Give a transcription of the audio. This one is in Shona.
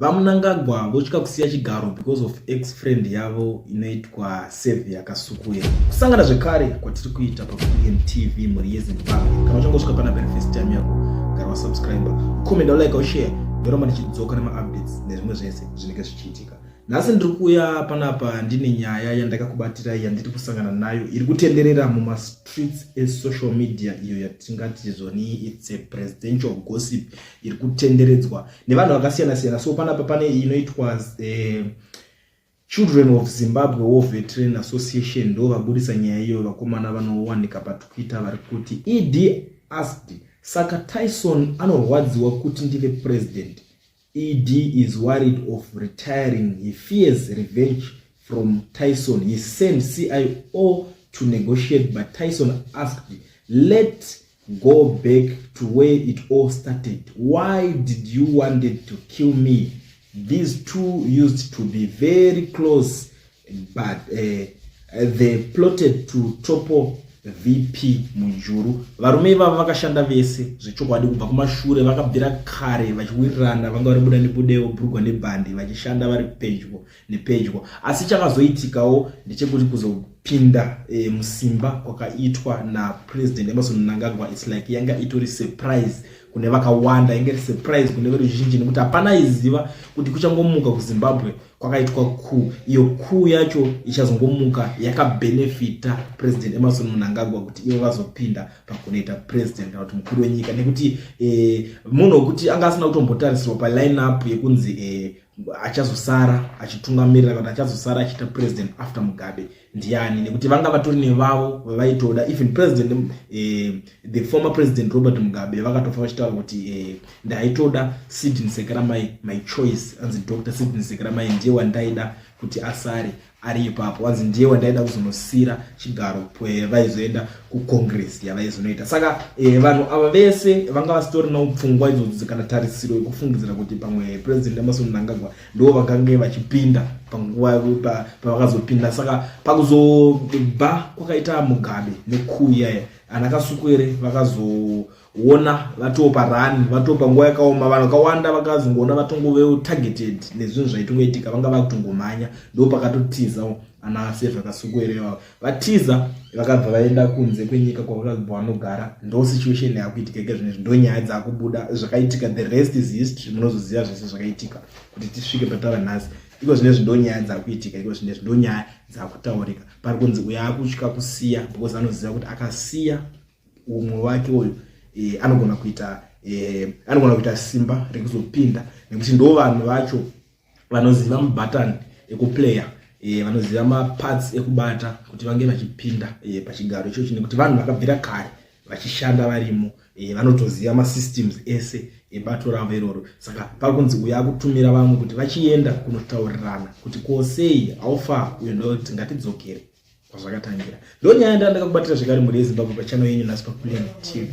VaMnangagwa votya kusiya chigaro because of ex friend yavo inoitwa save yakasukuya. Kusangana zvekare kwatiri kuita paBM TV mhuri yeZimbabwe. Kana uchangosvika pana very first time yako, gara wasubscriber, ukomenda, ulike, ushare, ndoramba ndichidzoka nemaupdates nezvimwe zvese zvinenge zvichiitika. Nhasi ndiri kuuya panapa ndine nyaya yandakakubatirai yandiri kusangana nayo iri kutenderera mumastreets esocial media iyo yatingati zoni its a presidential gossip iri kutenderedzwa nevanhu vakasiyana siyana so panapa pane inoitwa eh, children of zimbabwe war veteran association ndo vabudisa nyaya iyoyo vakomana vanowanika patwitter vari kuti ed asked saka tyson anorwadziwa kuti ndive president ed is worried of retiring he fears revenge from tyson he sent cio to negotiate but tyson asked let Go back to where it all started. Why did you wanted to kill me? These two used to be very close but uh, they plotted to topple VP Munjuru. Varume ivavo vakashanda vese zvechokwadi kubva kumashure vakabvira kare vachiwirirana vanga vari buda nebudeo brugwa nebhandi vachishanda vari pedyo nepedyo asi chakazoitikawo ndechekuti kuzopinda e, musimba kwakaitwa napresident emerson mnangagwa its like yanga itori surprise kune vakawanda inge iri surprise kune veruzhinji nekuti hapana aiziva kuti kuchangomuka kuzimbabwe kwakaitwa kuu iyo kuu yacho ichazongomuka yakabenefita president emerson munangagwa kuti ivo vazopinda pakunoita president kana kuti mukuru wenyika nekuti e, munhu wekuti anga asina kutombotarisirwa paline up yekunzi e, achazosara achitungamirira kana achazosara achiita president after mugabe ndiani nekuti vanga vatori nevavo vavaitoda even president eh, the former president robert mugabe vakatofa vachitaura kuti eh, ndaitoda sidin sekeramai my choice anzi dr sidin sekeramai ndiye wandaida kuti asare ari ipapo wanzi ndiye wandaida kuzonosiira chigaro pwee vaizoenda kucongress yavaizonoita saka e, vanhu ava vese vanga vasitorinawo pfungwa idzodzi kana tarisiro yekufungidzira kuti pamwe president emerson mnangagwa ndiwo vakange vachipinda panguva pavakazopinda pa, saka pakuzobva kwakaita mugabe nekuuya ana kasuku ere vakazo wona vatopa run vatopa nguva yakaoma vanhu vakawanda vakazongoona vatongovewo targeted nezvinhu zvaitongoitika vanga vakutongomhanya ndo pakatotiza ana ase zvakasukuerewa vatiza vakabva vaenda kunze kwenyika kwavakabva vanogara ndo situation yakuitika ika zvinezvi ndo nyaya dzakubuda zvakaitika the rest is history munozoziva zvese zvakaitika kuti tisvike patava nhasi iko zvinezvi ndo nyaya dzakuitika iko zvinezvi ndo nyaya dzakutaurika pari kunzi uyo akutya kusiya because anoziva kuti akasiya umwe wake uyu e, anogona kuita e, anogona kuita simba rekuzopinda nekuti ndo vanhu vacho vanoziva mubatan ekuplayer e, vanoziva maparts ekubata kuti vange vachipinda e, pachigaro ichochi nekuti vanhu vakabvira kare vachishanda varimo e, vanotoziva masystems ese ebato ravo iroro saka pari kunzi uya akutumira vamwe kuti vachienda kunotaurirana kuti kosei haufa uyo ndoti ngatidzokere kwazvakatangira ndonyaya ndandakakubatira zvekare mhuri yezimbabwe pachano yenyu nhasi paplain tv